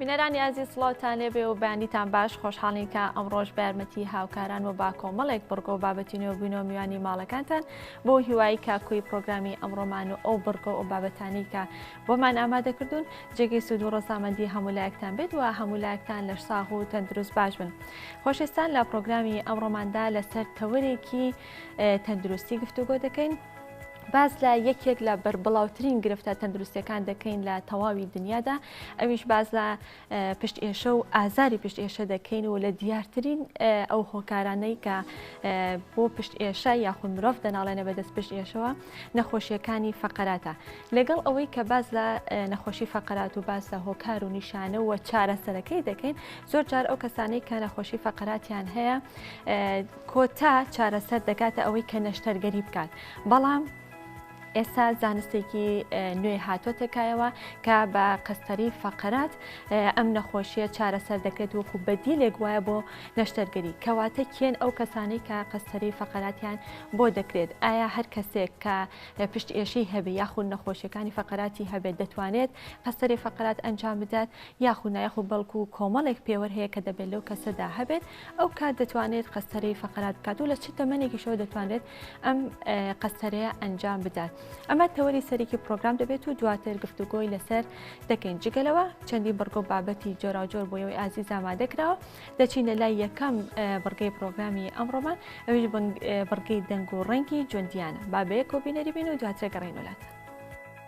بینەرانی ئازیز سڵاوتان لێبێ و بەیانیتان باش خۆشحاڵین کە ئەمڕۆژ بە یارمەتی هاوکاران و با کۆمەڵێک بڕگۆ بابەتی نوێ بووینە و میوانی ماڵەکانتان بۆ هیوایی کاکوی پرۆگرامی ئەمڕۆمان و ئەو بڕگۆ و بابەتانی کە بۆمان ئامادەکردوون جێگەی سوود و ڕزامەندی هەمولایەکتان بێت و هەمولایەکتان لە ساغ و تەندروست باش بن خۆشستان لە پرۆگرامی ئەمڕۆماندا لەسەر تەوەرێکی تەندروستی گفتوگۆ دەکەین باس لە یەکێک لە بەربڵاوترین گرفتە تەندروستەکان دەکەین لە تەواوی دنیادا ئەویش باز لە پشت ئێشە و ئازاری پشت ئێشە دەکەین و لە دیارترین ئەو هۆکارانەی کە بۆ پشت ئێشە یاخود مرۆڤ دەناڵێنە بەدەست پشت ئێشەوە نەخۆشیەکانی فقراتە لەگەڵ ئەوەی کە باز لە نەخۆشی فقرات و باز لە هۆکار و نیشانە و چارەسەرەکەی دەکەین زۆر جار ئەو کەسانەی کە نەخۆشی فقراتیان هەیە کۆتا چارەسەر دەگاتە ئەوەی کە نەشتەرگەری بکات بەڵام ئێستا زانستێکی نوێ هاتۆتە کایەوە کە بە قەستەری فەقەرات ئەم نەخۆشیە چارەسەر دەکرێت وەکو بەدیلێک وایە بۆ نەشتەرگەری کەواتە کێن ئەو کەسانی کە قەستەری فەقەراتیان بۆ دەکرێت ئایا هەر کەسێک کە پشت ئێشی هەبێ یاخود نەخۆشیەکانی فەقەراتی هەبێت دەتوانێت قەستەری فەقەرات ئەنجام بدات یاخود نایخ و بەڵکو کۆمەڵێک پێوەەر هەیە کە دەبێت لەو کەسەدا هەبێت ئەو کات دەتوانێت قەستەرەی فەقەرات بکات و لە چ تەمەێکیشەوە دەتوانێت ئەم قەستەرەیە ئەنجام بدات ئەمە تەوەری سەرێکی پرۆگرام دەبێت و دواتر گفتوگۆی لەسەر دەکەین جگەلەوە چەندی بڕگۆ بابەتی جۆراوجۆر بۆ ئەوەی ئازی زامادەکراوە دەچینە لای یەکەم بڕگەی پرۆگرامی ئەمڕۆمان ئەویش بڕگەی دەنگ و ڕەنگی جوندیانە بابەیە کۆبینەری بین و دواترە گەڕین وڵاتە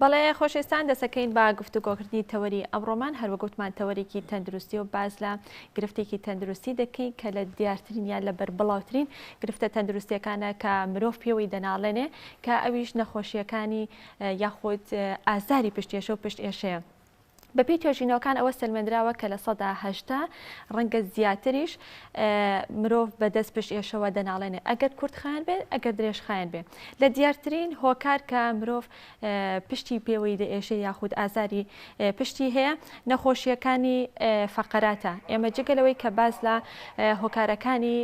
بەڵێ خۆشێستان دەسەکەین با گفتوگۆکردنی تەوەری ئەمڕۆمان هەروەگوتمان تەوەرێکی تەندروستی و باز لە گرفتێکی تەندروستی دەکەین کە لە دیارترین یان لە بەربڵاوترین گرفتە تەندروستیەکانە کە مرۆڤ پێوەی دەناڵێنێ کە ئەویش نەخۆشیەکانی یاخود ئازاری پشتێشە و پشت ئێشەیە. بەپێی توێژینەوەکان ئەوە سەلمێندراوە کە لە سەدا هەشتا ڕەنگە زیاتریش مرۆڤ بە دەست پشت ئێشەوە دەناڵێنێ ئەگەر کورتخان بێت ئەگەر درێژخان بێ لە دیارترین هۆکار کە مرۆڤ پشتی پێوەی لە ئێشە یاخود ئازاری پشتی هەیە نەخۆشیەکانی فەقەراتە ئێمە جگە لەوەی کە باز لە هۆکارەکانی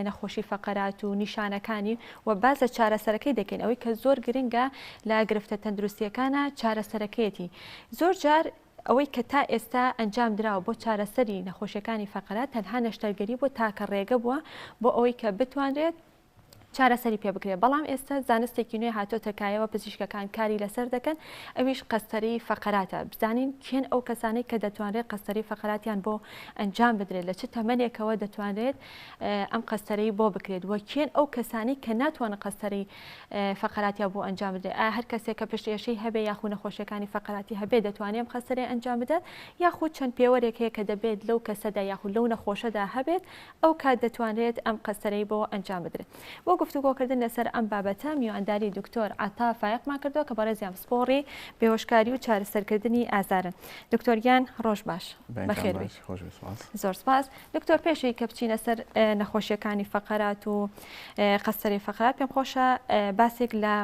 نەخۆشی فەقەرات و نیشانەکانی و باز لە چارەسەرەکەی دەکەین ئەوەی کە زۆر گرنگە لە گرفتە تەندروستیەکانە چارەسەرەکەیەتی زۆر جار ئەوەی کە تا ئێستا ئەنجام دراوە بۆ چارەسەری نەخۆشیەکانی فەقەرە تەنها نەشتەرگەری بووە تاکە ڕێگە بووە بۆ ئەوەی کە بتوانرێت چارەسەری پێ بکرێت بەڵام ئێستا زانستێکی نوێ هاتۆتە کایەوە پزیشکەکان کاری لەسەر دەکەن ئەویش قەستەری فەقەراتە بزانین کێن ئەو کەسانەی کە دەتوانرێت قەستەری فەقەراتیان بۆ ئەنجام بدرێت لە چ تەمەنێکەوە دەتوانرێت ئەم قەستەرەی بۆ بکرێت وە کێن ئەو کەسانی کە ناتوانە قەستەری فەقەراتیا بۆ ئەنجام بدرێت ئایا هەر کەسێک کە پشت ئێشەی هەبێ یاخو نەخۆشیەکانی فەقەراتی هەبێ دەتوانێت ئەم خەسەرێ ئەنجام بدات یاخود چەند پێوەرێک هەیە کە دەبێت لەو کەسەدا یاخود لەو نەخۆشەدا هەبێت ئەو کات دەتوانرێت ئەم قەسەرەی بۆ ئەنجام بدرێت بۆ گفتوگۆکردن لەسەر ئەم بابەتە میوانداری دکتۆر عطا فایقمان کردووە کە بەڕێزیان پسپۆڕی بێهۆشکاری و چارەسەرکردنی ئازارن دکتۆرگیان ڕۆژ باش بەخێربیت خۆش بێ سوپاس. زۆر سوپاس دکتۆر پێشەوی کە بچینە سەر نەخۆشیەکانی فەقەرات و قەستەری فەقەرات پێم خۆشە باسێک لە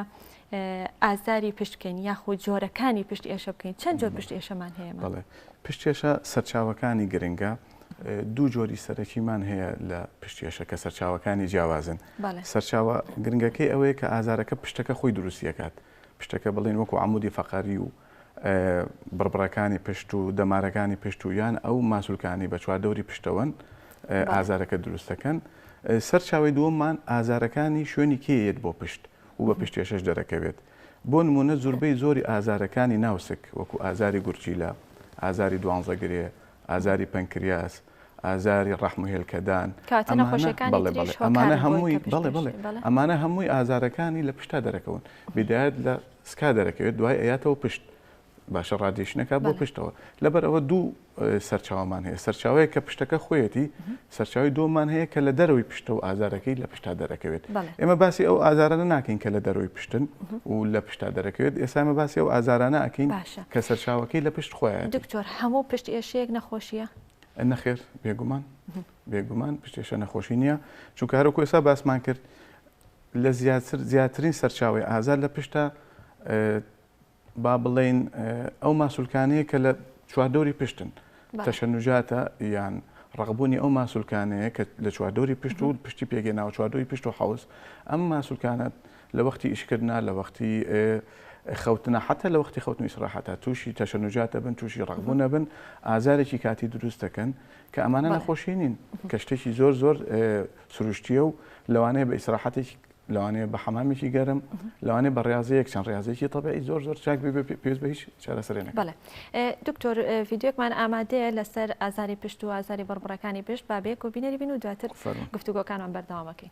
ئازاری پشت بکەین یاخو جۆرەکانی پشت ئێشە بکەین چەند جۆر پشت ئێشەمان هەیە بڵێ پشتێشە سەرچاوەکانی گرنگە دوو جۆری سەرەکیمان هەیە لە پشتێشە کە سەرچاوەکانی جیاوازن سەرچاوە گرنگەکەی ئەوەیە کە ئازارەکە پشتەکە خۆی دروستیەکات پشتەکە بڵێن وەکو عەمودی فەقەری و بڕبڕەکانی پشت و دەمارەکانی پشت و یان ئەو ماسولکانەی بە چواردەوری پشتەوەن ئازارەکە دروست دەکەن. سەرچاوەی دووەممان ئازارەکانی شوێنی کێ یەت بۆ پشت و بە پشتێشەش دەرەکەوێت. بۆ نموونە زوربەی زۆری ئازارەکانی ناو سک وەکو ئازاری گورچیلە، ئازاری دوانزەگرێ، ئازاری پەنکریاس، ئازاری ڕەحم و هێلکەدان، کاتە نەخۆشیەکانی تریش هۆکارن بۆ ئەوەی کە پشت بەشی، بەڵێ، ئەمانە هەمووی ئازارەکانی لە پشتا دەرەکەون، بیدایەت لە سکا دەرەکەوێت دوای ئەیاتەوە پشت، باشە ڕادیشن ئەکات بۆ پشتەوە، لەبەر ئەوە دوو سەرچاوەمان هەیە، سەرچاوەیەک کە پشتەکە خۆیەتی، سەرچاوەی دووەممان هەیە کە لە دەرەوەی پشتە و ئازارەکەی لە پشتا دەرەکەوێت، ئێمە باسی ئەو ئازارانە ناکەین کە لە دەرەوەی پشتن و لە پشتا دەرەکەوێت، ئێستا ئێمە باسی ئەو ئازارانە ئەکەین کە سەرچاوەکەی لە پشت خۆیەتی. دکتۆر هەموو پشت ئێشەیەک نەخۆشیە؟ نەخێر بێگومان بێگومان پشتێشە نەخۆشی نییە چونکە هەرۆکو ئێسا باسمان کرد لە زیاتر زیاترین سەرچاوی ئازار لە پشتە با بڵین ئەو ماسولکانەیە کە لە چواردەوری پشتن تەشەنوجاتە یان ڕقبوونی ئەو ماسولکانەیە کە لە چواردەوری پشت و پشتی پێگەی ناو چواردەوری پشت و حوز ئەم ماسولکانە لە وەختی ئیشکردنا، لە وەختی خەوتنا، حەتتا لە وەختی خەوتن و ئیسراحەتا تووشی تەشەنوجات دەبن، تووشی ڕەقبوون دەبن، ئازارێکی کاتی دروست دەکەن، کە ئەمانە نەخۆشی نین، کە شتێکی زۆر زۆر سروشتییە و لەوانەیە بە ئیسراحەتێکی، لەوانەیە بە حەمامێکی گەرم، لەوانەیە بە ڕێاضەیەک، چەند ڕێاضەیەکی تەبیعی زۆر زۆر چاک بێ پێویست بە هیچ چارەسەرێ نەکات. بەڵێ. دکتۆر ڤیدیۆیەکمان ئامادەیە لەسەر ئازاری پشت و ئازاری بڕبڕەکانی پشت، با بەیەکەوە بینەری بین و دواتر گفتوگۆکانمان بەردەوام ئەکەین.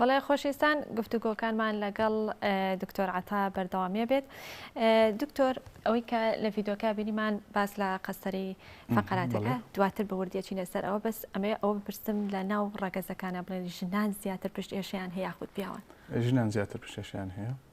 بەڵێ خۆشیستان گفتوگۆکانمان لەگەڵ دکتۆر عتا بەردەوامیە بێت دکتۆر ئەوەی کە لە ڤیددیوکە بینیمان باس لە قەسەری فقراتەکە دواتر بە وردیەچی لەسەر ئەوە بەس ئەمەیە ئەوە بپرسم لە ناو ڕەگەزەکانە بڵێن ژنان زیاتر پشت ئێشیان هەیە خود پیاوان ژنان زیاتر پشتێشیان هەیە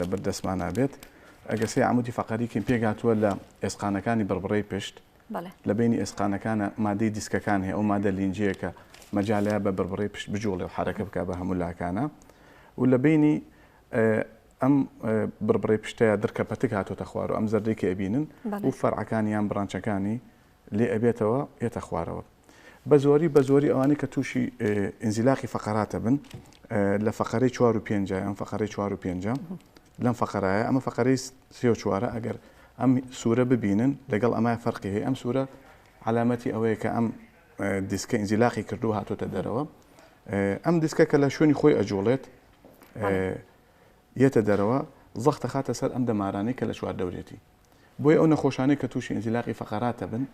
لەبەر دەستمانا بێت ئەگە سێ عمودی فەقەری کەین پێکهاتووە لە ئێسقانەکانی بڕبڕەی پشت لە بینی ئێسقانەکانە مادەی دیسکەکان هەیە ئەو مادە لینجەیەکە مەجالە بە بڕبڕەی پشت بجوڵێ و حرەکە بک بە هەموو لاکانە و لە بینی ئەم بڕبڕی پشتەیە درکە پەتک هاتۆتە خوار و ئەم زەردەی کە ئەبینن و فەرعەکانیان بڕانچەکانی لێ ئەبێتەوە ئێتە خوارەوە بە زۆری بە زۆری ئەوانەی کە تووشی ئینزیلاقی فەقەراتە بن لە فەقەرەی چوار و پێنج ئەم فەقەرەی چوار و پێنج لەم فەقەرایە ئەمە فەقەرەی سێ و چوارە ئەگەر ئەم سوورە ببینن لەگەڵ ئەمای فەرقی هەیە ئەم سوورە علامەتی ئەوەیە کە ئەم دیسکە ئینزیلاقی کردو هاتۆتە دەرەوە ئەم دیسکە کە لە شوێنی خۆی ئەجوڵێت یەتە دەرەوە زەختە خاتە سەر ئەم دەمارانەی کە لە چوار دەورێتی بۆی ئەو نەخۆشانەی کە تووشی ئینزیلاقی فەقەراتە بن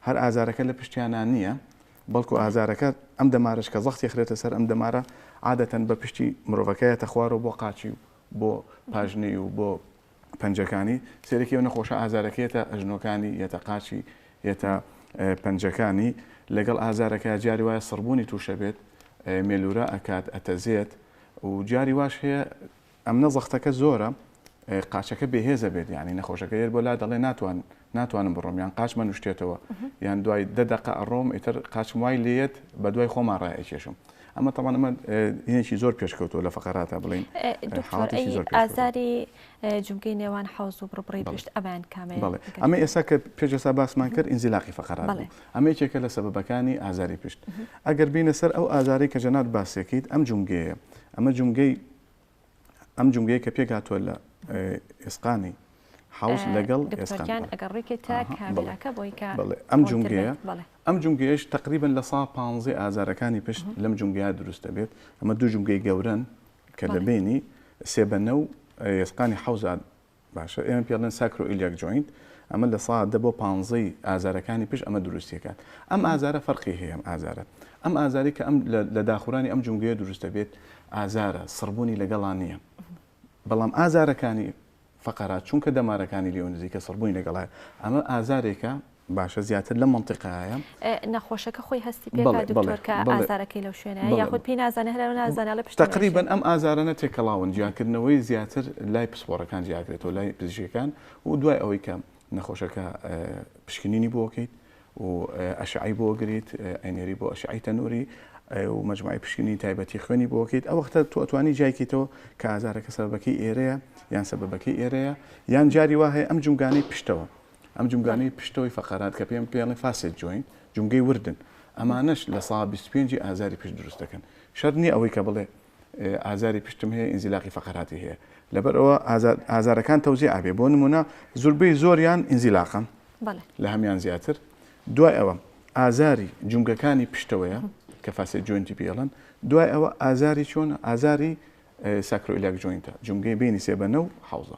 هەر ئازارەکە لە پشتیانا نییە، بەڵکو ئازارەکە ئەم دەمارەش کە زەختی ئەخرێتە سەر ئەم دەمارە عادەتەن بە پشتی مرۆڤەکە یەتە خوارەوە بۆ قاچی و بۆ پاژنەی و بۆ پەنجەکانی، سەیرێکی ئەو نەخۆشە ئازارەکە یەتە ئەژنۆکانی، یەتە قاچی، یەتە پەنجەکانی، لەگەڵ ئازارەکە جاری وایە سڕبوونی تووشە بێت، مێلوورە ئەکات، ئەتەزێت و جاری واش هەیە، ئەمنە زەختەکە زۆرە قاچەکە بێهێزە بێت یانی نەخۆشەکە یەر بۆ لا دەڵێ ناتوان ناتوانم بڕۆم یان قاچ من شتێتەوە یان دوای دە دقە ئەڕۆم ئیتر قاچم وای لێت بە دوای خۆمان ڕایکێشم ئەمە تەوانمە هێنێکی زۆر پێشکەوتو لە فقراتە بڵین ئازاری جوگەی نێوان حوز و بڕبڕی پشت ئەمان کامێ ئەمە ئێستا کە پێشسا باسمان کرد ئینزیلاقی فقرات ئەمە یەکێکە لە سەبەکانی ئازاری پشت ئەگەر بینە سەر ئەو ئازاری کە جەنات باسێکیت ئەم جومگەیە ئەمە جومگەی ئەم جومگەیە کە پێک هاتووە لە ئێسقانی حوز لەگەڵ ئەم جومگەیە ئەم جومگەیەش تقریبن لە سا پ ئازارەکانی پشت لەم جومگەیە دروستە بێت ئەمە دوو جومگەی گەورن کە لە بینی سێبەنە و ئێسقانی حوزان باشە ئێمە پێ ئەڵێن ساکرۆئیلیاک جۆینت ئەمە لە سا دە بۆ پانزەی ئازارەکانی پشت ئەمە دروستیەکات ئەم ئازارە فەرقی هەیە ئەم ئازارە ئەم ئازاری کە ئەم لە داخورانی ئەم جونگەیە دروستە بێت ئازارە سڕبوونی لەگەڵان نییە بەڵام ئازارەکانی فقرات چونکە دەمارەکانی لێو نزیکە سڕبووی لەگەڵای ئەمە ئازارێکە باشە زیاتر لەم مەنتیقایە نەخۆشەکە خۆی هەستی پێ دکتۆر کە ئازارەکەی لەو شوێنە یاخود پێی نازانە هەر نازانە لە پشت تقریبن ئەم ئازارانە تێکەڵاون جیانکردنەوەی زیاتر لای پسپۆڕەکان جیاکرێتەوە لای پزیشکەکان و دوای ئەوەی کە نەخۆشەکە پشکنینی بۆکەیت و ئەشعی بۆ گریت ئەنێری بۆ ئەشعی تەنووری و مجموعی پشکنی تایبەتی خوێنی بۆکەیت ئەو وەختە تو ئەتوانی جایکەیتەوە کە ئازارەکە سەربەکەی ئێرەیە یان سەبەکەی ئێرەیە یان جاری وایە ئەم جومگانەی پشتەوە ئەم جومگانەی پشتەوەی فەقەرات کە پێم پێڵێن فاسێت جۆین جومگەی وردن ئەمانەش لە سا بیست پێنجی ئازاری پشت دروست دەکەن شەر نییە ئەوەی کە بڵێ ئازاری پشتم هەیە ئینزیلاقی فەقەراتی هەیە لەبەر ئەوە ئازارەکان تەوزی ئابێ بۆ نمونە زوربەی زۆریان ئینزیلاقە لە هەمان زیاتر دوای ئەوە ئازاری جونگەکانی پشتەوەیە کە فاسێت جوێنتی پێڵن دوای ئەوە ئازاری چۆن ئازاری ساکرۆیلاک جوینتە جونگەی بینی سێبەنە و حوزە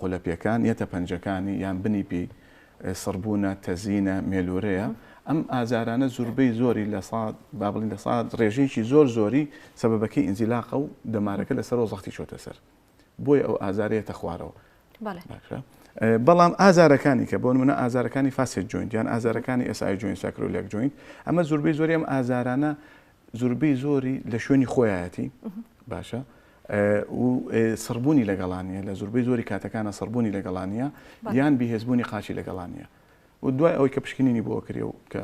قولەپێکان، یەتە پەنجەکانی یان بنی پێی سڕبوونە، تەزینە، مێلوورەیە. ئەم ئازارانە زوربەی زۆری لە سات با بڵێین لە سات ڕێژەیەکی زۆر زۆری سەبەبەکەی ئینزیلاقە و دەمارەکە لە سەرەوە زەختی چۆتە سەر بۆیە ئەو ئازارە یەتە خوارەوە. بەڵام ئازارەکانی کە بۆن منە ئازارەکانی فاسێت جوین یان ئازارەکانی ئێسای جوین ساکرۆلێک جوین ئەمە زوربەی زۆری ئەم ئازارانە زوربەی زۆری لە شوێنی خۆیایەتی باشە و سڕبوونی لەگەڵانە لە زوربەی زۆری کاتەکانە سڕبوونی لەگەڵانە یان بهێزبوونی قاچی لەگەڵانە و دوای ئەوەی کە پشکنینی بۆ کرێ و کە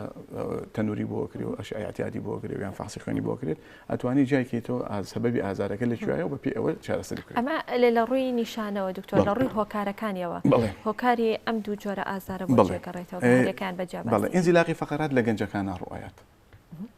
تەنووری بۆ کرێ و ئەشعاتیادی بۆ کرێ یان فاسی خوێنی بۆ کرێت ئەتوانی جایکەیتەوە ئازسەبەبی ئازارەکە لە کوێایە بە پێ ئەوە چارەسەری کرد ئەمە لێ لە ڕووی نیشانەوە دکتۆر لە ڕووی هۆکارەکانیەوە هۆکاری ئەم دوو جۆرە ئازارە بڵێگەڕێتەوەەکان بەجێ بەڵێ ئینزیلاقی فقرات لە گەنجەکان ناڕوایەت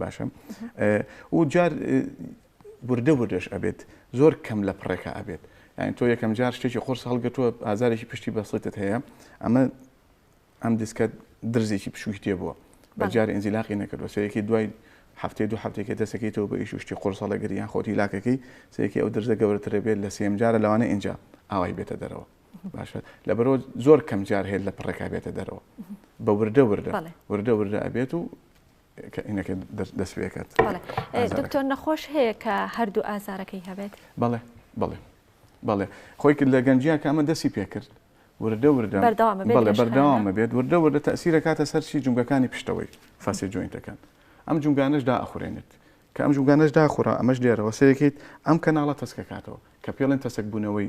باشە و جار وردە وردەش ئەبێت زۆر کەم لە پڕێکە ئەبێت یعنی تۆ یەکەم جار شتێکی قرس هەڵگەتووە ئازارێکی پشتی بەسڵێتت هەیە ئەمە ئەم دیسکە درزێکی پشووی تێ بووە بەجار ئەنجیلاقی نەکردوە سەرێکی دوای هەفتەی دوو هەفتێکی دەسەکەیتەوە بە ئیشوشتی قرسەڵە گریان خۆتی لاکەکەی سێکی ئەو درزە گەورەترە بێت لە سێم جارە لەوانە ئینجا ئاوای بێتە دەرەوە باشە لە بەرەوە زۆر کەم جار هێت لە پڕێکا بێتە دەرەوە بە وردە وردە وردە وردە ئەبێت و دکتۆر نەخۆش هەیە کە هەردوو ئازارەکەی هەبێت بەڵێ بڵێ بەڵێ خۆی کرد لە گەنجیا کامە دەسی پێکرد وردە وردە بەردەوامە بێت وردە وردە تەسیرە کاتە سەرچی جونگەکانی پشتەوەی فاسی جوینتەکان ئەم جونگانش دا ئەخورێنێت کە ئەم جوگانش داخورا ئەمەش لێرەوە سەرەکەیت ئەم کەناڵە تەسکەکاتەوە کە پێڵێن تەسک بوونەوەی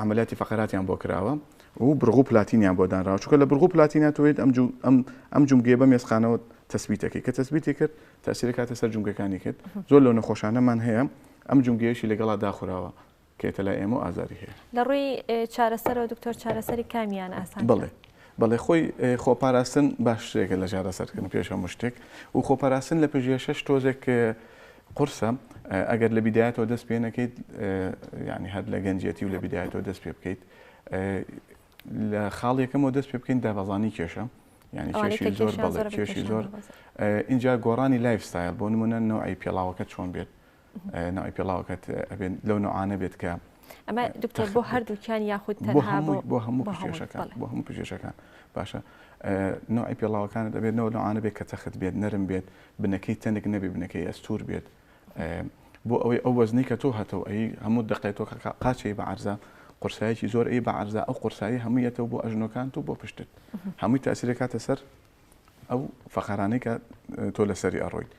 عەمەلیاتی فەقەراتیان بۆ کراوە و بڕگو پلاتینیان بۆ دانراوە چونکە لە بڕگو پلاتینە تۆ یت ئەم جو ئەم ئەم جومگەیە بەم ئێسقانەوە تەسبیت دەکەی کە تەسبیتی کرد تەسیر ئەکاتە سەر جومگەکانی کرد زۆر لەو نەخۆشانەمان هەیە ئەم جومگەیەشی لەگەڵا داخوراوە کە یەتە لای ئێمە و ئازاری هەیە. لە ڕووی چارەسەرەوە دکتۆر چارەسەری کامیان ئاسانترە؟ بەڵێ. بەڵێ خۆی خۆپاراستن باشترێکە لە چارەسەرکردن پێش هەموو شتێک و خۆپاراستن لە پژێشەش تۆزێک قورسە ئەگەر لە بیدایەتەوە دەست پێ نەکەیت ینی هەر لە گەنجەتی و لە بیدایەتەوە دەست پێ بکەیت لە خاڵێکەکەمەوە دەست پێ بکەین دابەزانی کێشە ینی کێشی زۆر بەڵێ کێشی زۆر اینجا گۆڕانی لایف ستایل بۆ نمونە نەوەی پێڵاوەکە چۆن بێت ناوی پێڵاوەکەت ئەبێت لەو نوعانە بێت کە ئەمە دکتۆر بۆ هەردووکیان یاخود بۆ هەموو بۆ هەموو پێشەکان بۆ هەموو پێشەکان باشە نوعی پێڵاوەکانت دەبێت نەوە نوعاانە بێت کە تەخت بێت نەرم بێت بنەکەی تەنک نەبێ بنەکەی ئەستور بێت بۆ ئەوەی ئەو وەزنی کە تۆ هەتەوە ئەی هەموو دقێتەوە قاچەی بە عرزە قورسایەکی زۆر ئەی بە عرزە ئەو قورسایی هەموویەتەوە بۆ ئەژنۆکان و بۆ پشتت هەمووی تاسیرەکاتە سەر ئەو فەقەرانەی کە تۆ لەسەری ئەڕۆیت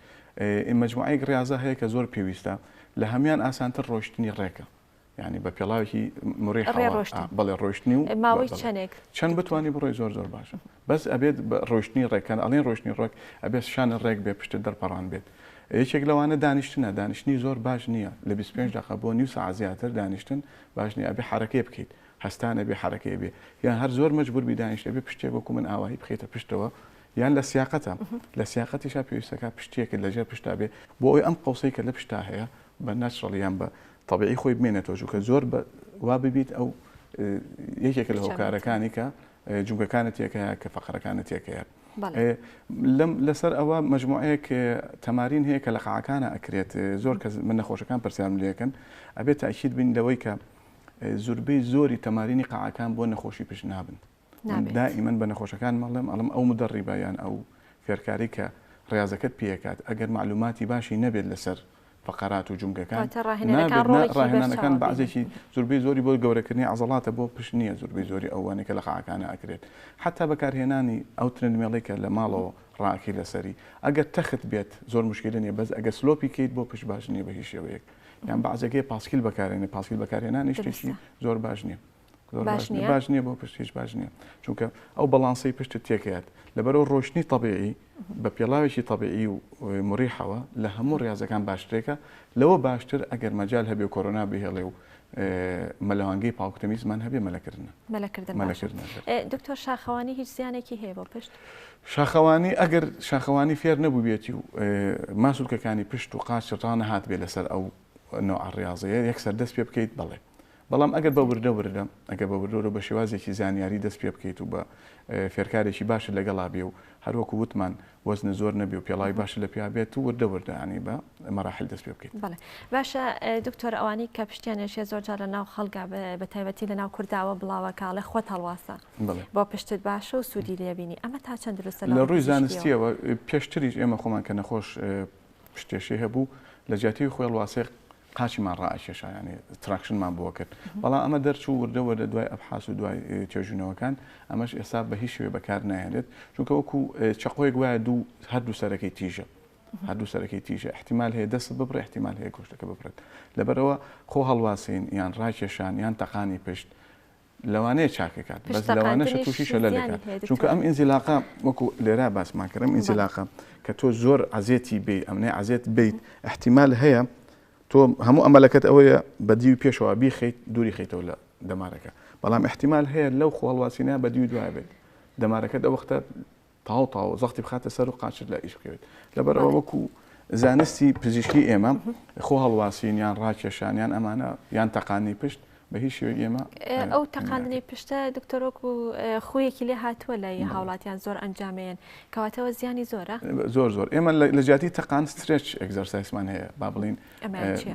ئین مەجموعەیەک ڕاضە هەیە کە زۆر پێویستە لە هەمان ئاسانتر ڕۆشتنی ڕێکە ینی بە پێڵاوێکی مڕی بەڵێ ڕۆشتنی و ماوەی چەندێک چەند بتانی بڕۆی زۆر زۆر باشە بەس ئەبێت ڕۆشتنی ڕێکەن ئەڵێن ڕۆشتنی ڕۆک ئەبێت شانە ڕێک بێ پشت دەرپەڕان بێت یەکێک لەوانە دانیشتنە دانیشتنی زۆر باش نییە لە 25 دقە بۆ نیو سا زیاتر دانیشتن باش نیە ئەبێ حرەکەی بکەیت هەستان ئەبێ حەرەکەی بێ یان هەر زۆر مەجبور بی دانیشت ئەبێ پشتێک وەکو من ئاوایی بخەیتە پشتەوە یان لە سیاقەتە لە سیاقەتیشا پێویستەکە پشتێکت لەژێر پشتا بێ بۆ ئەوی ئەم قەوسەی کە لە پشتا هەیە بە نەچڕڵ یان بە تەبیعی خۆی بمێنێتەوە چونکە زۆر بە وا ببیت ئەو یەکێکە لە هۆکارەکانی کە جوگەکانت تێکەیە کە فەقەرەکانت تێکەیە لەم لەسەر ئەوە مجموعەیەک تەمارین هەیە کە لە قاعەکانە ئەکرێت زۆر کە من نەخۆشەکان پرسیارم لەکەن ئەبێت تاکیید بین لەوەی کە زوربەی زۆری تەمارینی قاعەکان بۆ نەخۆشی پشت نابن دائیمەن بە نەخۆشەکان مەڵێم ئەڵم ئەو مدەڕیبە یان ئەو فێرکاری کە ڕاضەکەت پێکات ئەگەر معلوماتی باشی نەبێت لەسەر فقرات و جمگەکان ڕاهێنانەکان بەعزێکی زوربەی زۆری بۆ گەورەکردنی عزڵاتە بۆ پشت نییە زوربەی زۆری ئەوانە کە لە قاعەکانە ئەکرێت حتا بەکارهێنانی ئەو ترند مێڵی کە لە ماڵەوە ڕاکی لەسەری ئەگەر تەخت بێت زۆر مشکلە نیە بەس ئەگە سلۆپی کەیت بۆ پشت باش نیە بە هیچ شێوەیەک یان بەعزەکەی پاسکیل بەکارێنێ پاسکیل بەکارهێنانی شتێکی زۆر باش نییە باش نیە باش نییە بۆ پشتیش باش نییە چونکە ئەو بەڵانسی پشت تێکات لەبەرەوە ڕۆشتنی طببیعی بە پێڵاوێکی طببیعی و مریحەوە لە هەموو ڕاضەکان باشترێکە لەوە باشتر ئەگەر مەجال هەبێ کۆرۆنا بهێڵێ و مەلەوانگەی پاکتەمیزمان هەبێ مەلەکردە مەلەکردن دکتۆر شاخەوانی هیچ زیانێکی هەیە بۆ پشت شاخەوانی ئەگەر شاخەوانی فێر نەبووبێتی و ماسولکەکانی پشت و قاچ ڕانەهاتبێ لەسەر ئەو نەوعە ڕاضەیە یەکسەر دەست پێ بکەیت بەڵێ بەڵام ئەگەر بە وردە وردە ئەگەر بە وردۆرە بە شێوازێکی زانیاری دەست پێ بکەیت و بە فێرکارێکی باشە لەگەڵا بێ و هەروەکو وتمان وەزنە زۆر نەبێ و پێڵاوی باش لە پیا بێت و وردە وردەانی بە مەراحل دەست پێ بکەیت باشە دکتۆر ئەوانی کە پشتیانێشێ زۆر جار لە ناو خەڵگا بە تایبەتی لە ناو کورداوە بڵاوە کاڵێ خۆت هەڵواسە بۆ پشتت باشە و سوودی لێ بینی ئەمە تا چەند دروستە لە ڕووی زانستیەوە پێشتریش ئێمە خۆمان کە نەخۆش پشتێشەی هەبوو لە جیاتی خۆی هەڵواسێ قاچیمان ڕائکێشایانی تراکشنمان بۆ کرد بەڵام ئەمە دەرچوو وردە وەردە دوای ئەبحاس و دوای توێژینەوەکان ئەمەش ئێستا بە هیچ شوێ بەکار نایێنێت چونکە وەکو چقۆی گوایە دوو هەردوو سەرەکەی تیژە هەردوو سەرەکەی تیژە احتیمال هەیە دەست ببڕ احتیمال هەیە گۆشتەکە ببرێت لەبەرەوە خۆ هەڵواسین یان ڕاکێشان یان تەقانی پشت لەوانەیە چاکی کات بەس پشت لەوانەشە تەقاندنیش تووشی شەلەلێ زیانی کات هەیە چونکە ئەم دکتۆر ئینزیلاقە وەکو لێرا باسمان کرد ئەم بەڵێ ئینزیلاقە کە تۆ زۆر عەزێتی بی ئەمنەی عەزێت بیت ئیحتیمال هەیە تۆ هەموو ئەمەلەکەت ئەوەیە بە دیوی پێشەوە بیخەیت دووری خەیتەوە لە دەمارەکە بەڵام ئیحتیمال هەیە لەو خۆهەڵواسینە بە دیوی دوایە بێت دەمارەکەت ئەو وەختە تاو تاو زەختی بخاتە سەر و قاچت لە ئیش بکەوێت لەبەر ئەوە وەکو زانستی پزیشکی ئێمە خۆ هەڵواسین یان ڕاکێشان یان ئەمانە یان تەقانی پشت بە هیچ شێوە ئێمە ئەو تەقاندنی پشتە دکتۆرۆک و خویەکی لێ هاتووە لە هاوڵاتیان زۆر ئەنجامێن کەواتەوە زیانی زۆرە زۆر زۆر ئێمە لە جیاتی تەقان سترێچ ئەگزەرسایسمان هەیە با بڵین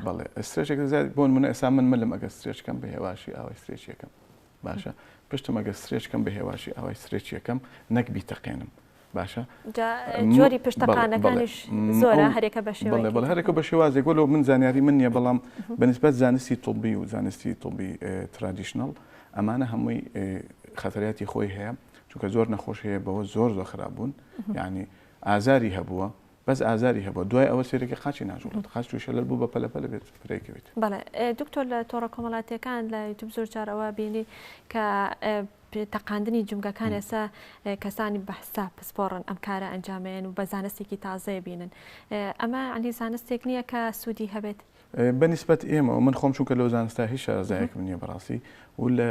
بڵێ سترێچ بۆن منە ئێسا من ملم ئەگە سترێچکەم بە هێواشی ئاوای سترێچەکەم باشە پشتم ئەگەر سرێچ کەم بە هێواشی ئاوای سرێچ یەکەم نەک بیتەقێنم باشە جۆری پشتەقانەکانیش زۆرە هەرێکە بە شێوەڵێ بەڵ هەرێکە بە شێوازێک وەلو من زانیاری من نییە بەڵام بەنسبەت زانستی طبی و زانستی طبی ترادیشنەڵ ئەمانە هەمووی خەتەریاتی خۆی هەیە چونکە زۆر نەخۆش هەیە بەوە زۆر زۆر خراپ بوون یعنی ئازاری هەبووە بەس ئازاری هەبوە دوای ئەوە سێرەکی قاچی ناجوڵێت قاچ توشە لەل بو بە پەلە پەلە بێت فرێ کەویت. بەڵێ دکتۆر لە تۆڕە کۆمەڵاتیەکان لە یوتوب زۆر جار ئەوە بینی کە تەقاندنی جومگەکان ئێسا کەسانی بەحساب پسپۆڕن ئەم کارە ئەنجامێن و بە زانستێکی تازەیە بینن ئەمە عنی زانستێک نییە کە سوودی هەبێت بەنیسبەت ئێمە من خۆم چونکە لەو زانستا هیچ شارەزایەکم نییە بەڕاستی و لە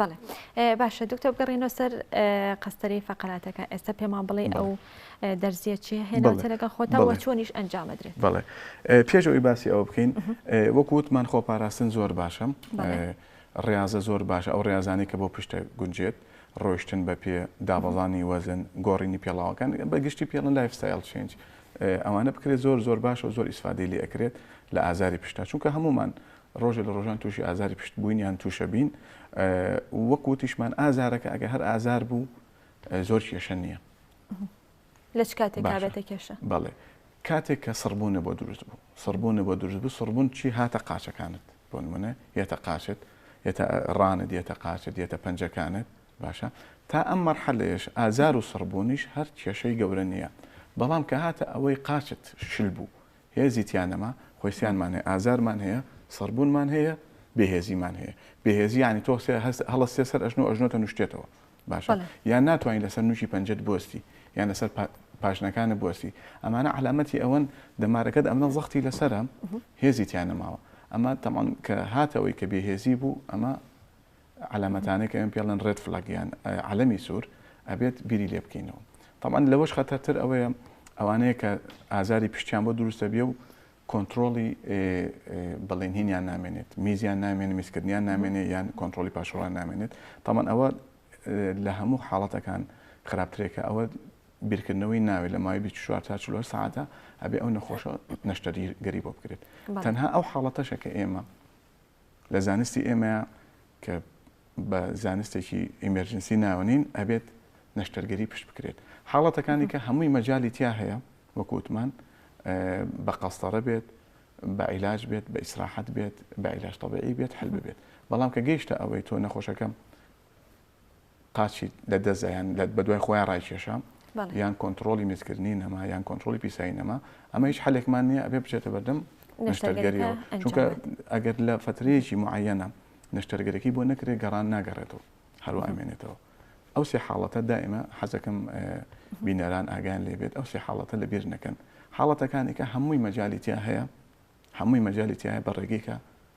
بەڵێ باشە دکتۆر بگەڕێنەوە سەر قەستەری فەقەراتەکە ئێستا پێمان بڵێ ئەو دەرزیە چیە هێناوتە لەگەڵ خۆتەوە چۆنیش ئەنجامەدرێت بەڵێ پێش ئەوی باسی ئەوە بکەین وەکووتمان خۆ پاراستن زۆر باشم ڕاضە زۆر باشە ئەو ڕاضانی کە بۆ پشتە گونجێت ڕۆشتن بە پێ دابڵانی وەزن گۆڕینی پێڵاوەکان بە گشتی پێڵن لایفستایل چێنج ئەوانە بکرێت زۆر زۆر باش و زۆر ئیسفادی لێ ئەکرێت لە ئازاری پشتا چونکە هەمومان ڕۆژێ لە ڕۆژان تووشی ئازاری پشت بووین یان تووشە بین وەک وتیشمان ئازارەکە ئەگەر هەر ئازار بوو زۆر کێشە نییە لە چ کاتێک بابێتە کێشە بەڵێ کاتێک کە سڕبوونە بۆ دروست بوو سڕبوونە بۆ دروست بوو سڕبوون چی هاتە قاچەکانت بۆ منە یەتە قاچت یەتە ڕانت یەتە قاچت یەتە پەنجەکانت باشە تا ئەم مەرحەلەیەش ئازار و سڕبوونیش هەر کێشەی گەورە نییە بەڵام کە هاتە ئەوەی قاچت شل بوو هێزی تیا نەما، خۆیسیانمان هەیە، ئازارمان هەیە، سڕبوونمان هەیە، بێهێزیمان هەیە. بێهێزی یانی تۆ سێ هەست هەڵەستیە سەر ئەژنۆ، ئەژنۆتە نوشتێتەوە. باشە؟ بەڵێ. یان ناتوانی لەسەر نوکی پەنجەت بوەستی، یان لەسەر پا پاشنەکانت بوەستی. ئەمانە عەلامەتی ئەوەن دەمارەکەت ئەمنە زەختی لەسەرە، هێزی تیا نەماوە. ئەمە تەبعەن کە هاتەوەی کە بێهێزی بوو، ئەمە عەلامەتانەی کە ئێمە پێ ئەڵێن ڕێد فلاگ یان عەلەمی سوور ئەبێت بیری لێ بکەینەوە تەبعەن لەوەش خەتەرتر ئەوەیە ئەوانەیە کە ئازاری پشتیان بۆ دروست دەبێ و کۆنتترۆڵی بەڵێنهینیان نامێنێت میزیان نامێنێت میزکردنیان نامێنێت یان کۆنتترۆلی پاشڕوان نامێنێت تامان ئەوە لە هەموو حاڵەتەکان خراپترێکە ئەوە بیرکردنەوەی ناوێت لە ماوەی 24 تا 4 ساعتە ئەبێ ئەو نەخۆشە نەشتەری گەری بۆ بکرێت تەنها ئەو حاڵەتەشە کە ئێمە لە زانستی ئێمەیا کە بە زانستێکی ئیمێرجنسی ناوەنین ئەبێت نەشتەرگەری پشت بکرێت حاڵەتەکانی کە هەمووی مەجای تیا هەیە وەکووتمان بە قەستەرە بێت بە عیلاج بێت بە ئیسراحەت بێت بە عیلاش تەبعی بێت حل بێت بەڵام کە گەیشتە ئەوەی تۆ نەخۆشەکەم قاچی لە دەستدا یان بە دوای خۆیان ڕایکێشا یان کۆنتڕۆڵی میزکردنی نەما یان کۆنتڕۆڵی پیسایی نەما ئەمە هیچ حلێکمان نییە ئەبێ بچێتە بەردەم نەشتەرگەریەوە چونکە ئەگەر لە فترەیەکی معەنە نەشتەرگەرەکەی بۆ نەکرێت گەڕان ناگەڕێتەوە هەروە ئەمێنێتەوە ئەو سێ حاڵەتە دائمە حەزەکەم بینەران ئاگان لێبێت ئەو سێ حاڵەتە لە بیر نەکەن حاڵەتەکانێکە هەمووی مەجاالیتیا هەیە هەمووی مەجاالیتیایە بە ڕێگەیکە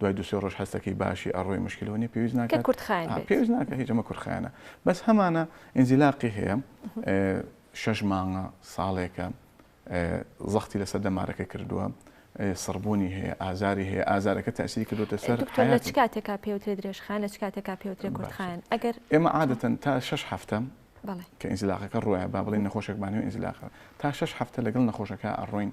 دوای دوو سێ ڕۆژ هەستەکەی باشی ئەڕۆی مشکلەوە نیە پێویست ناکات کە کورد خایەن بێت پێویست ناکات هیچ ئەمە کورد خایەنە بەس هەمانە ئینزیلاقی هەیە شەش مانگە ساڵێکە زەختی لەسەر دەمارەکە کردووە سڕبوونی هەیە ئازاری هەیە ئازارەکە تاسیری کردوتە سەر دکتۆر لە چ کاتێکا پێوترێ درێژخان لە چ کاتێکا پێوترێ کوردخان ئەگەر ئێمە عادەتەن تا شش هەفتە کە ئینزیلاقەکە ڕوایە با بڵێن نەخۆشێکمانەوە ئینزیلاقە تا شش هەفتە لەگەڵ نەخۆشەکە ئەڕۆین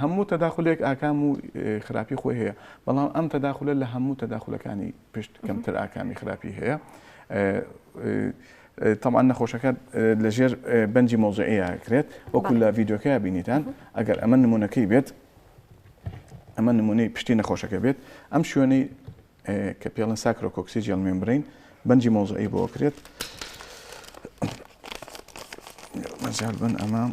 هەموو تەداخولێک ئاکام و خراپی خۆی هەیە بەڵام ئەم تەداخولە لە هەموو تەداخولەکانی پشت کەمتر ئاکامی خراپی هەیە تەمان نەخۆشەکە لەژێر بەنجی مۆزعەیە کرێت وەکو لە ڤیددیوکە بینیتان ئەگەر ئەمە نمونونەکەی بێت ئەمە نمونەی پشتی نەخۆشەکە بێت ئەم شوێنەی کە پێڵن ساکرۆکۆکسی جێڵ مێمبرین بەنجی مۆزعی بۆ کرێت مەجال بن ئەمام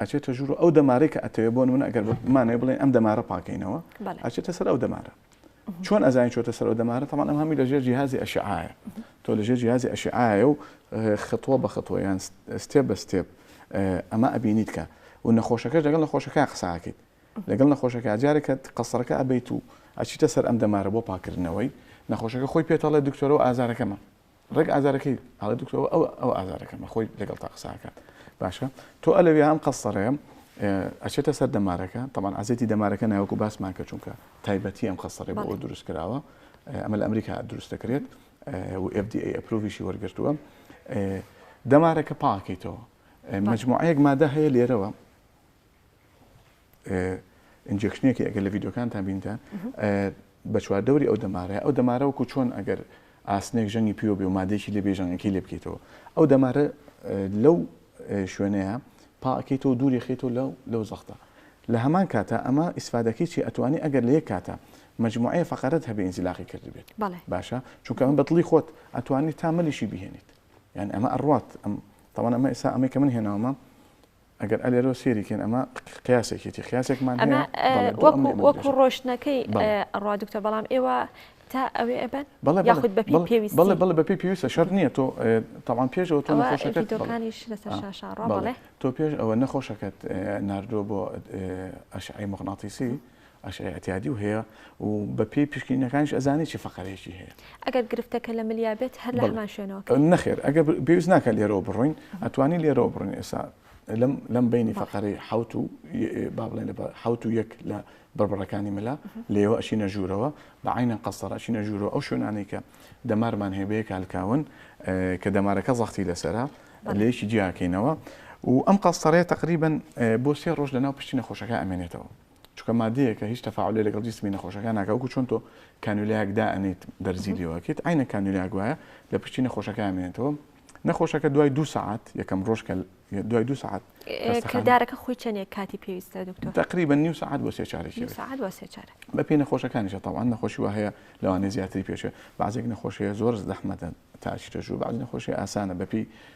ئەچێتە ژوور و ئەو دەمارەی کە ئەتەوێ بۆ نمونە ئەگەر بمانەوێ بڵێن ئەم دەمارە پاکەینەوە بەڵێ ئەچێتە سەر ئەو دەمارە چۆن ئەزانین چۆتە سەر ئەو دەمارە تەمان ئەم هەمی لەژێر جیهازی ئەشعاعە تۆ لەژێر جیهازی ئەشعاعە و خطوە بە خطوە یان ستێپ بە ستێپ ئەمە ئەبینیت کە و نەخۆشەکەش لەگەڵ نەخۆشەکە قساکەیت لەگەڵ نەخۆشەکە جارێکە قەسەرەکە ئەبیت و ئەچیتە سەر ئەم دەمارە بۆ پاکردنەوەی نەخۆشەکە خۆی پێتەڵێ دکتۆرە و ئازارەکەمە ڕێک ئازارەکەی ئاڵێ دکتۆر ئەوە ئەوە ئەوە ئازارەکەمە خۆی لەگەڵتا قسە ئەکات باشە تۆ ئەلەوێ ئەم قەسەڕەیە ئەچێتە سەر دەمارەکە تەمان عزێتی دەمارەکە ناوەکو باسمان کە چونکە تایبەتی ئەم قەسەڕێ بۆ بەڵێ. دروست کراوە ئەمە لە ئەمریکا دروست دەکرێت و FDA ئەپروڤیشی وەرگرتووە دەمارەکە پاکەیتەوە مجموعەیەک مادە هەیە لێرەوە ئینجێکشنێکی ئەگەر لە ڤیدۆکانتان بینتان بە چواردەوری ئەو دەمارەیە ئەو دەمارەوەکو چۆن ئەگەر ئاسنێک ژەنگی پیوە بێ و مادێکی لێ بێژەنگەکەی لێ بکەیتەوە ئەو دەمارە لەو شوێنەیە پاکەیتەوە دووری خیتەوە لەو لەو زەختە لە هەمان کاتە ئەمە ئیسفادەکەی چی ئەتوانی ئەگەر لە یەک کاتە مجموعەیە فقرت هەبێ ئینزیلاقی کرد بێت باشە چونکە ئەم بەدڵی خۆت ئەتوانی تا ملیشی بهێنیت یان ئەمە ئەڕات ئەم تاوان ئەمە ئێسا ئەمەی کە من هێناومە ئەگەر ئە لێرەوە سێری کەین ئەمە قیاسێکێتی قیاسێکمان ئەمە وەکو ڕۆشتنەکەی ڕوا دکتۆر بەڵام ئێوە تا ئەوێ ئەبەن بەڵێ یاخود بە پێویست بەڵێ بەڵێ بە پێی پێویستە شەر نییە تۆ تەوان پێشەوە تۆ نەخۆشەکەتەکانیش لەسەر شاشا ڕاڵێ تۆ پێش ئەوە نەخۆشەکەت نردووە بۆ ئەشعی مغناطیسی ئەش ئیعتیادی و هەیە و بە پێی پشکینەکانیش ئەزانێت چی فەقەرەیەکی هەیە. ئەگەر گرفتەکە لە ملیا بێت هەر لە بەڵێ هەمان شوێنەوە کە. نەخێر ئەگەر پێویست ناکات لێرەوە بڕۆین ئەتوانین لێرەوە بڕۆین ئێستا لەم لەم بەینی بەڵێ. فەقەرەی حەوت و با بڵێین لە حەوت و یەک لە بڕبڕەکانی ملا لێوە ئەچینە ژوورەوە بە عەینە قەسرە ئەچینە ژوورەوە ئەو شوێنانەی کە دەمارمان هەیە بە یەک هەلکاون کە دەمارەکە زەختی لەسەرە بەڵێ. لەیەکی جیا ئەکەینەوە و ئەم قەسرەیە تەقریبەن بۆ سێ ڕۆژ لەناو پشتی نەخۆشەکە ئەمێنێتەوە. چونکە مادەیەکە هیچ تەفاعولێ لەگەڵ جیسمی نەخۆشەکە ناکا وەکو چۆن تۆ کانولیایەک دائەنێیت بەرزی لێ واکەیت عەینەن کانولیایەک وایە لە پشتی نەخۆشەکەیا مێنێتەوە نەخۆشەکە دوای دوو سەعات یەکەم ڕۆژ کە دوای دوو سەعات کردارەکە خۆی چەندێک کاتی پێویستە دکتۆر تقریبا نیو ساعت بۆ سێ چارێک نیو ساعت بۆ سێ چارە بە پێی نەخۆشەکانیشە تەوان نەخۆشی وە هەیە لەوانێ زیاتری پێشێ بەعزێک نەخۆشەیە زۆر زەحمەتە تاچیتە ژوو بەعزی نەخۆشی ئاسانە بەپی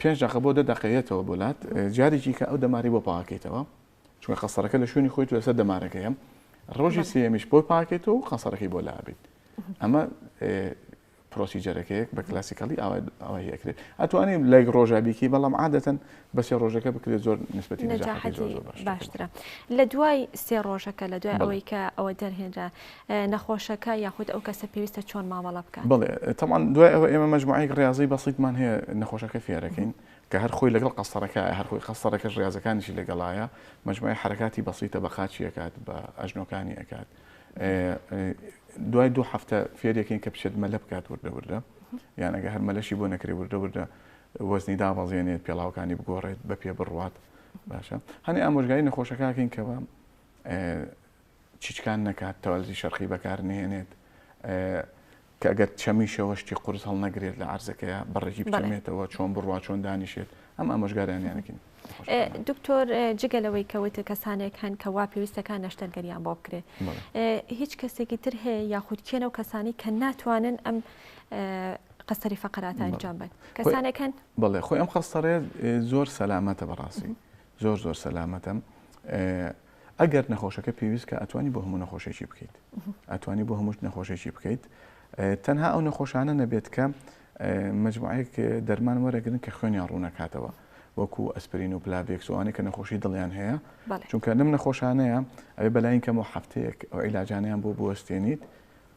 پێنج دەقە بۆ دە دەقە یەتەوە بۆ لات جارێکی کە ئەو دەماری بۆ پاکەیتەوە چونکە قەسەرەکە لە شوێنی خۆیت لەسەر دەمارەکەیە ڕۆژی سێمیش بۆ پاکێت و قەسەرەکەی بۆ لابیت ئەمە پرۆسیجەرەکەیەک بە کلاسیکەڵی ئەوەی ئەکرێت ئەتوانین لە ڕۆژە بیکی بەڵام عادەتەن بەسێ ڕۆژەکە بکرێت زۆر نسبەتی باشترە لە دوای سێ ڕۆژەکە لە دوای ئەوەی کە ئەوە دەرهێنرا نەخۆشەکە یاخود ئەو کەسە پێویستە چۆن مامەڵە بکات؟ بەڵێ تەبعەن دوای ئەوە ئێمە مەجموعەیەک ڕیازی بەسیتمان هەیە نەخۆشەکە فێرەکەین کە هەر خۆی لەگەڵ قەستەرەکایە هەر خۆی قەستەرەکەش ڕیازەکانیشی لەگەڵایە مەجموعەی حەرەکاتی بەسیتە بە قاچی ئەکات بە ئەژنۆکانی ئەکات دوای دوو هەفتە فێرەکەین کە بچێت مەلە بکات وردە وردە یان ئەگە هەر مەلەشی بۆ نەکرێ وردە وردە وەزنی دابەزێنێت پێڵاوەکانی بگۆڕێت بە پێ بڕوات باشە هەنێ ئامۆژگاری نەخۆشەکەکەین کەەوە چیچکان نەکات تەوالێتی شەرقی بەکار نەهێنێت کە گەر چەمیشەوە شتی قورس هەڵنەگرێت لە عرزەکەی بەڕێکی بچێتەوە چۆن بڕوا چۆن دانیشێت ئەم ئامۆژگاریانیانەکەین دکتۆر جگە لەوەی کەوتە کەسانێک هەن کە وا پێویستەکان نەشتەرگەریان بۆ بکرێت هیچ کەسێکی تر هەیە یاخود کێنە و کەسانی کە ناتوانن ئەم قەسەری فەقرات ئەنجام بن کەسانەکەن بڵێ خۆی ئەم خەستەڕێ زۆر سەلامەتە بەڕاستی زۆر زۆر سەلامەتم ئەگەر نەخۆشەکە پێویست کە ئەتوانی بۆ هەموو نەخۆشێکی بکەیت ئەتوانی بۆ هەمووش نەخۆشێکی بکەیت تەنها ئەو نەخۆشانە نەبێت کە مجموعەیەک دەرمان وەرەگرن کە خوێنیان ڕوونەکاتەوە وەکو ئەسپرین و پلاڤێکسوانێک کە نەخۆشی دڵیان هەیە چونکە نم نەخۆشانەیە ئەوێ بەلاین کەمەوە هەفتەیەک ئەو عیلاجانیان بۆ بوەستێنیت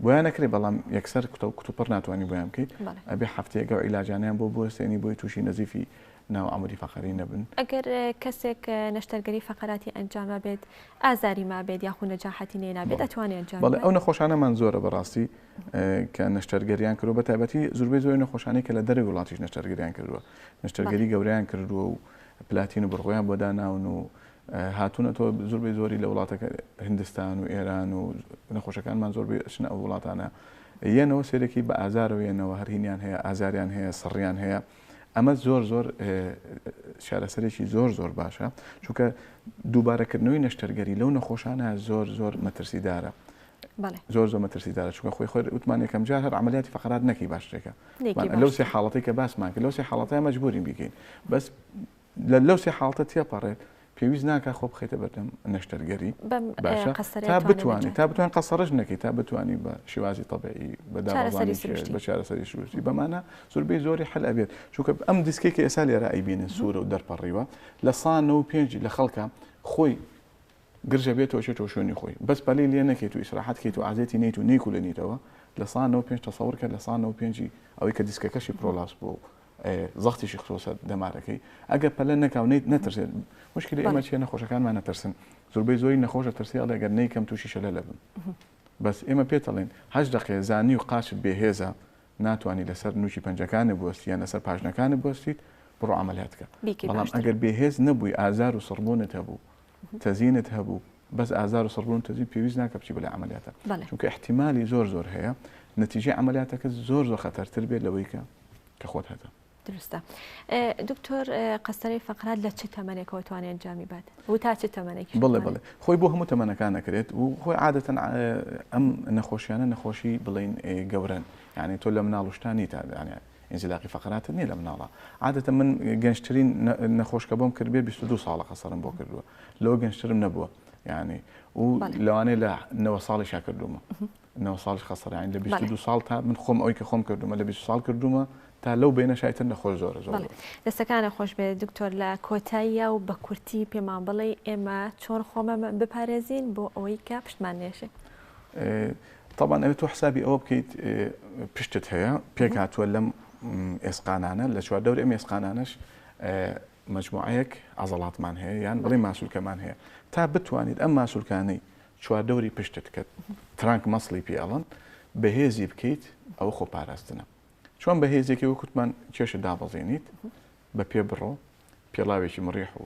بۆیان ئەکرێ بەڵام یەکسەر کوتە کوتوپڕ ناتوانانی بۆیان بکەیت ئەبێ هەفتەیەگە و عیلاجانیان بۆ بوەستێنی بۆی تووشی نەزیفی ناو ئەمری فەقەری نەبن ئەگەر کەسێک نەشتەرگەری فەقەراتی ئەنجامە بێت ئازاری ما بێت یاخو نەجاحەتی نێنابێت ئەتوانێت ئەنجام بەڵێ ئەو نەخۆشانەمان زۆرە بەڕاستی کە نەشتەرگەریان کردو بە تایبەتی زوربەی زۆر نەخۆشانی کە لە دەرەوی وڵاتیش نەشتەرگەریان کردووە نەشتەرگەری گەوریان کردووە و پلاتین و بڕغۆیان بۆ داناون و هاتونەتەوە زۆربەی زۆری لە وڵاتەکە هندستان و ئێران و نەخۆشەکانمان زۆربەی ئەچنە ئەو وڵاتانە یەنەوە سێرەکی بە ئازارەوە یەنەوە هەر هینیان هەیە ئازاریان هەیە سڕیان هەیە ئەمە زۆر زۆر شارەسەرێکی زۆر زۆر باشە چونکە دووبارەکردنەوەی نەشتەرگەری لەو نەخۆشانە زۆر زۆر مەترسیدارە زۆر زۆر مەترسیدارە چونکە خۆی خۆر وتمان یەکەم جار هەر عملیاتی فقرات نەکی باشترێکە لەو سێ حاڵەتی کە باسمان کرد لەو سێ حاڵەتای مەجبورین بیکەین بەس لە لەو سێ حاڵەتە تێپەڕێت پێویست ناکات خۆ بخەیتە بەردەم نەشتەرگەری باشە تا بتوانێت تا بتوان قەسەڕش نەکەیت تا بتانی بە شێوازی تەبعی بەداڕستی بە چارەسەری سروشتی بەمانە زۆربەی زۆری حل ئەبێت چونکە ئەم دیسکێک کە ئێسا لێرە ئەیبینن سوورە و دەرپەڕیوە لە سا نە و پێنج لە خەڵکە خۆی گرژە بێت تۆ چێتەوە شوێنی خۆی بەس پەلی لێ نەکەیت و ئیسراحەت کەیت و عزیێتی نیت و نیکولێنیتەوە لە سا نە و پێنج تەسەور کە لە سا نە و پێنجی ئەوەی کە دیسکەکەشی پرۆلاس بوو زەختیشی خستۆتە دەمارەکەی ئەگەر پەلە نەکا و نیت نەترسێت مشکلی ئێمە چیە نەخۆشەکانمان نەترسن زۆربەی زۆری نەخۆشە ترسی ئەڵێ گەر نیکەم تووشی شەلە لەبم بەس ئێمە پێتەڵێن هەش دقێ زانی و قاچت بێهێزە ناتوانانی لەسەر نوچی پەنجەکانە بستیان لەسەر پاشنەکانە بستیت بڕۆ عملیاتکە بەڵام ئەگەر بێهێز نەبووی ئازار و سڕبوونت هەبوو تەزینت هەبوو بەس ئازار و سڕبوون تەزین پێویست ناکە بچی بەلای عەمەلیاتە چونکە ئیحتیمالی زۆر زۆر هەیە نەتیجەی عەمەلیاتەکە زۆر زۆر خەتەرتر بێت لەوەی کە کە خۆت هەتە دروستە دکتۆر قەسەری فقرات لە چ تەمەێکەوە توانێت ئەنجامی بات و تا چ تەمەێکی بڵێ بڵێ خۆی بۆ هەموو تەمەەکان نەکرێت و خۆی عادەتەن ئەم نەخۆشیانە نەخۆشی بڵین گەورن یعنی تۆ لە مناڵشتانی تادانیان ئینزیلاقی فەقراتر نیە لە مناڵە عادەتەن من گەنجترین نەخۆشکە بۆم کردبێ بیست و دوو ساڵە قەسەرم بۆ کردووە لەوە گەنجترم نەبووە یعنی و لەوانەیە لە نەوە ساڵیشا کردومە نەوە ساڵش خەسەرین لە بیست و دوو ساڵ تا من خۆم ئەوی کە خۆم کردومە لە بیست ساڵ کردومە تا لەو بینە شایتر نەخۆش زۆرە زۆر بەڵێ. دەستەکانە خۆش بێ دکتۆر لە کۆتاییە و بە کورتی پێمان بڵێ ئێمە چۆن خۆمە بپارێزین بۆ ئەوەی کە پشتمان نێشێ ئێ، تەبعەن ئەوێ تۆ حسابی ئەوە بکەیت پشتت هەیە پێک هاتووە لەم ئێسقانانە لە چواردەوری ئەم ئێسقانانەش مجموعەیەک عضلاتمان هەیە یان بڵێ ماسولکەمان هەیە تا بتوانیت ئەم ماسولکانەی چواردەوری پشتت کە ترانک مەسڵی پێڵن بەهێزی بکەیت ئەوە خۆ پاراستنە چۆن بەهێزێکی وەکوتمان کێشە دابەزێنیت بە پێ بڕۆ پێڵاوێکی مڕیح و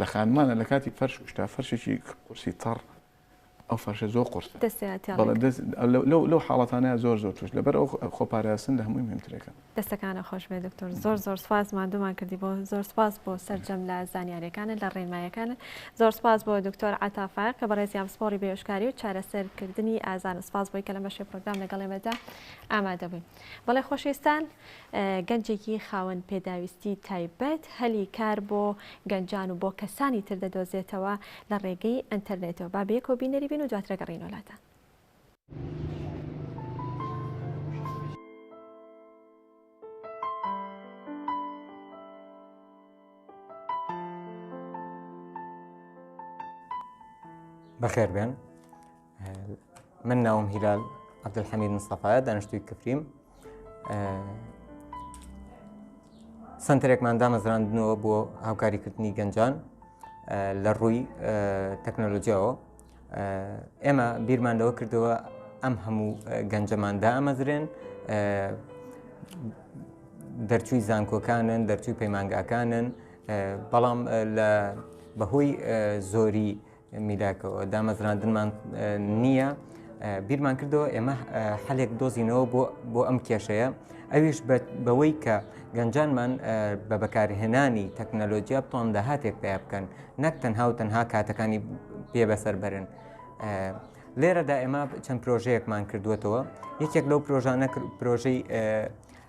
لە خانمانە لە کاتی فەرش کوشتا فەرشێکی قورسی تەڕ ئەو فەرشە زۆر قورسە لەو حاڵەتانە زۆر زۆر توش لەبەر ئەو خۆپاراستن لە هەمووی مهمترەکە دەستەکانە خۆش بێ دکتۆر زۆر زۆر سپاس مادومان کردی بۆ زۆر سپاس بۆ سەررجەم لە زانیارەکانە لە ڕێنمایەکانە زۆر سپاس بۆ دکتۆر عتافا کە بەڕێزیان پسپۆری بێشکاری و چارەسەرکردنی ئازان سپاس بۆی کە لە بەشێ پرۆگرام لەگەڵێمەدا ئامادەبووین. بەڵێ خۆشەویستان گەنجێکی خاوەن پێداویستی تایبەت هەلی کار بۆ گەنجان و بۆ کەسانی تر دەدۆزێتەوە لە ڕێگەی ئەنتەرنێتەوە با بەیەکەوە بینەری بین و دواترە گەڕینەوە لاتان. بەخێربێن من ناوم هیلال عبدحەمید مستەفاە دانیشتوی کفریم سنتەرێکمان دامەزراندنەوە بۆ هاوکاریکردنی گەنجان لە ڕووی تەکنەلۆژیاەوە ئێمە بیرمان لەوە کردەوە ئەم هەموو گەنجەمان دامەزرێن دەرچووی زانکۆکانن دەرچووی پەیمانگاکانن بەڵام لە بەهۆی زۆری میلاکەوە دامەزراندنمان نییە بیرمان کردەوە ئێمە حلێک دۆزینەوە بۆ بۆ ئەم کێشەیە ئەویش بەوەی کە گەنجانمان بە بەکارهێنانی تەکنەلۆجییا بتوان داهاتێک پێ بکەن نەک تەنها و تەنها کاتەکانی پێ بەسەر بەرن. لێرەدا ئێمە چەند پرۆژەیەکمان کردوێتەوە یەکێک لەو پرۆژانە پرۆژەی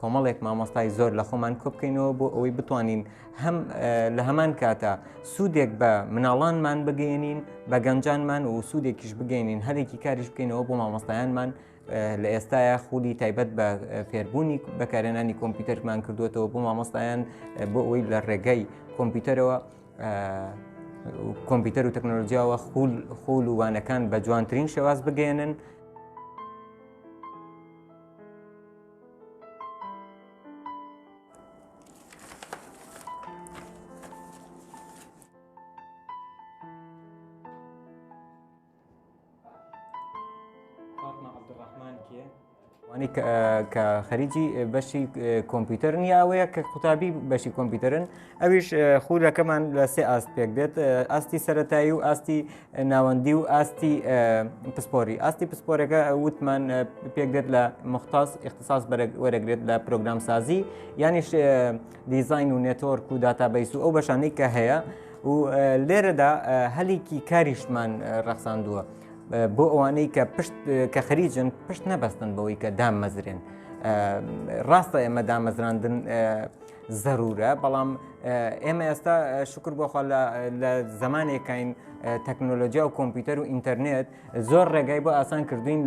کۆمەڵێک مامۆستای زۆر لە خۆمان کۆبکەینەوە بۆ ئەوەی بتوانین هەم لە هەمان کاتە سوودێک بە مناڵانمان بگەێنین بە گەنجانمان و سوودێکیش بگەێنین هەرێکی کاریش بکەینەوە بۆ مامۆستایانمان لە ئێستاە خولی تایبەت بە فێربوونی بەکارێنانی کۆمپیوتەرمان کردوێتەوە بۆ مامۆستایان بۆ ئەوی لە ڕێگەی کۆمپیوتەرەوە کۆمپیوتەر و تەکنۆلۆژیاوە خول خول و وانەکان بە جوانترین شێواز بگەێنن وانی کە خەریکی بەشی کۆمپیوتەر نییە ئەوەیە کە قوتابی بەشی کۆمپیوتەرن ئەویش خودەکەمان لە سێ ئاست پێک دێت ئاستی سەتایی و ئاستی ناوەندی و ئاستی پسپۆری ئاستی پسپۆرەکە وتمان پێک دێت لە مختاس اختصاص وەرەگرێت لە پرۆگرام سازی یانیش دیزین و نێتۆرک و داتابیس و ئەو بەشانەی کە هەیە و لێرەدا هەلێکی کاریشمان ڕەخساندووە بۆ ئەوانەی کە پشت کە خەریجن پشت نەبەستن بەوەی کە دامەزرێن ڕاستە ئێمە دامەزراندن زەرورە بەڵام ئێمە ئێستا شکر بۆخوا لە زمانێکین تەکنۆلۆژیا و کۆمپیوتەر و ئینتەرنێت زۆر ڕێگای بۆ ئاسان کردوین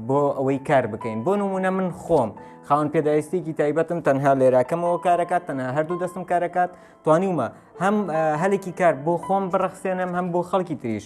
بۆ ئەوەی کار بکەین بۆ نمونە من خۆم خاون پێداویستێکی تایبەتم تەنها لێراکەمەوە کارەکات تەنها هەردوو دەستم کارەکات توانیومە هەم هەلێکی کار بۆ خۆم بڕەخسێنم هەم بۆ خەڵکی تریش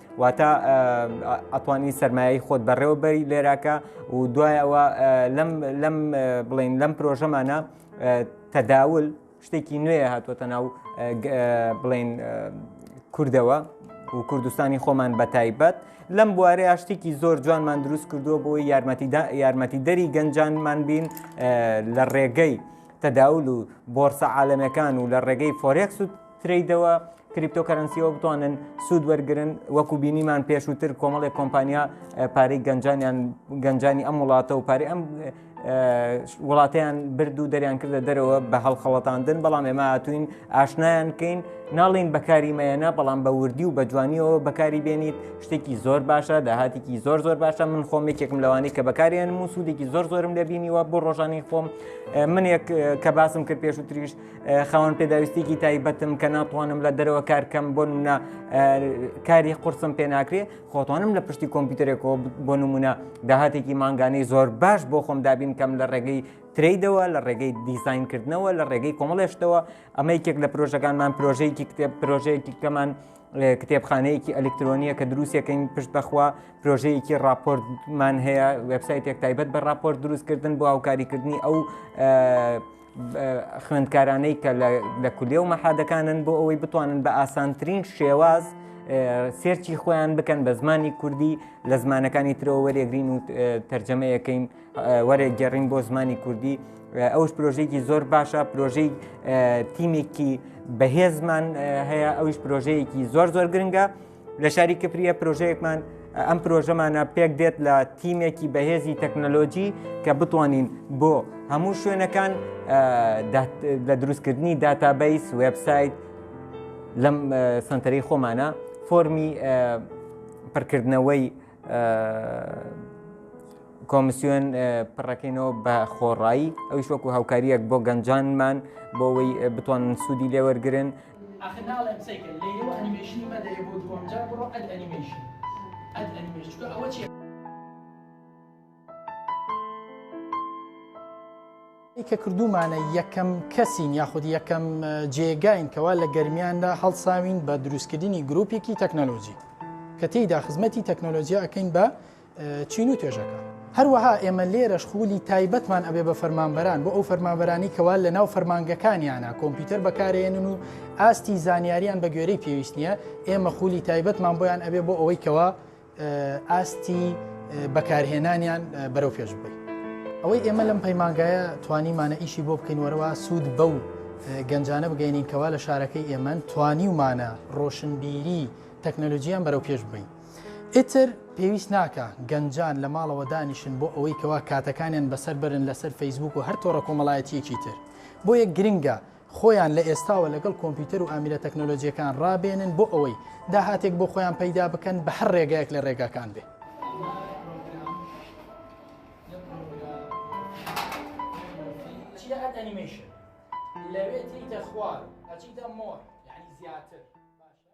واتە ئەتوانی سرمایەی خۆت بەڕێوە بەری لێراکە و دوایەوە لەم بڵین لەم پرۆژەمانە تەداول شتێکی نوێ هاتووەتە ناو بڵین کوردەوە و کوردستانی خۆمان بە تایبەت لەم بوارە یاشتێکی زۆر جوانمان دروست کردووە بۆی یارمەتی دەری گەنجانمان بین لە ڕێگەی تەداول و بۆرسە عاالەمەکان و لە ڕێگەی فۆرێکس و ترەیدەوە کریپتۆکەرەنسیەوە بتوانن سوود وەرگن وەکو بینیمان پێشووتر کۆمەڵی کۆمپانیا پارەی گەنجانیان گەنجانی ئەم وڵاتە و پارەی ئەم وڵاتیان برد و دەریان کردە دەرەوە بە هەڵخەڵەتاندن بەڵام ئێمە هاتوین ئاشنایان کەین ناڵین بەکاری مەیەنە بەڵام بە وردی و بە جوانیەوە بەکاری بێنیت شتێکی زۆر باشە داهاتێکی زۆر زۆر باشە من خۆم یەکێکم لەوانی کە بەکاریان و سوودێکی زۆر زۆرم لەبینیوە بۆ ڕۆژانی خۆم من یەک کە باسم کرد پێشوتریش خاوەن پێداویستێکی تایبەتم کە ناتوانم لە دەرەوە کارکەم بۆ نمونە کاری قرسم پێ ناکرێ خۆتوانم لە پشتی کۆمپیوتەرێکەوە بۆ نمونە داهاتێکی مانگانەی زۆر باش بۆ خۆم دابین کەم لە ڕێگەی تریدەوە لە ڕێگەی دیزینکردنەوە لە ڕێگەی کۆمەڵێشتەوە ئەمە یەکێک لە پرۆژەکانمان پرۆژەیەکی کتێب پرۆژەیەکی کەمان کتێبخانەیەکی ئەلکترۆنیە کە دروستەکەین پشت بەخوا پرۆژەیەکی راپۆرتمان هەیە وبسایتێک تایبەت بە راپۆرت دروستکردن بۆ هاوکاریکردنی ئەو خوێندکارانەی کە لە کولیە و مەحادەکانن بۆ ئەوەی بتوانن بە ئاسانترین شێواز سێرچی خۆیان بکەن بە زمانی کوردی لە زمانەکانی ترەوە وەرێگرین و تەرجەمەیەکەین وەرە گەڕین بۆ زمانی کوردی ئەوش پرۆژێکی زۆر باشە پرۆژەی تیمێکی بەهێزمان هەیە ئەوش پرۆژەیەکی زۆر زۆر گرنگە لە شاری کپریە پرۆژەیەکمان ئەم پرۆژەمانە پێک دێت لە تیمێکی بەهێزی تەکنەلۆجی کە بتوانین بۆ هەموو شوێنەکان لە دروستکردنی داتابیس وبسایت لەم سنتەری خۆمانە فۆمی پڕکردنەوەی کۆمسیۆن پڕەکەینەوە بە خۆڕایی ئەوش وەکو هاوکاریەک بۆ گەنجانمان بۆەوەی بتوانن سوودی لێوەرگن ئاخر ناڵێم قسەی کە لەیلە و ئەنیمەیشنی مەدەیە بۆ دووەم جار بڕۆ ئەد ئەنیمەیشن ئەد ئەنیمەیشن چونکە ئەوە چیە کە کردومانە یەکەم کەسین یاخود یەکەم جێگاین کەوا لە گەرمیاندا هەڵساوین بە دروستکردنی گرروپێکی تەکنەلۆژی کە تێیدا خزمەتی تەکنەلۆژیا ئەەکەین بە چین و توێژەکە. هەروەها ئێمە لێرەش خوولی تایبەتمان ئەبێ بە فەرمانبەران بۆ ئەو فەرمانبەرانی کەوا لە ناو فەرمانگەکانیانە کۆمپیوتەر بەکارێنن و ئاستی زانیاریان بە گوێرەی پێویست نییە ئێمە خوولی تایبەتمان بۆیان ئەبێ بۆ ئەوەی کەوا ئاستی بەکارهێنانیان بەرەو پێش بێت. ئەوەی ئێمە لەم پەیمانگایە توانیمانە ئیشی بۆ بکەین وەرەوە سوود بە و گەنجانە بگەینین کەوا لە شارەکەی ئێمە توانیومانە ڕۆشنبیری تەکنەلۆژیان بەرەو پێش بین. ئیتر پێویست ناکا گەنجان لە ماڵەوە دانیشن بۆ ئەوەی کەوا کاتەکانیان بەسەر بەرن لەسەر فەیسبووک و هەر تۆڕە کۆمەڵایەتییەکی تر. بۆیە گرنگە خۆیان لە ئێستاوە لەگەڵ کۆمپیوتەر و ئامیرە تەکنەلۆجییەکان ڕابێنن بۆ ئەوەی داهاتێک بۆ خۆیان پەیدا بکەن بە هەر ڕێگایەک لە ڕێگاکان بێ. لەوێ تێیتە خوار ئەچیتە مۆر یعنی زیاتر باشە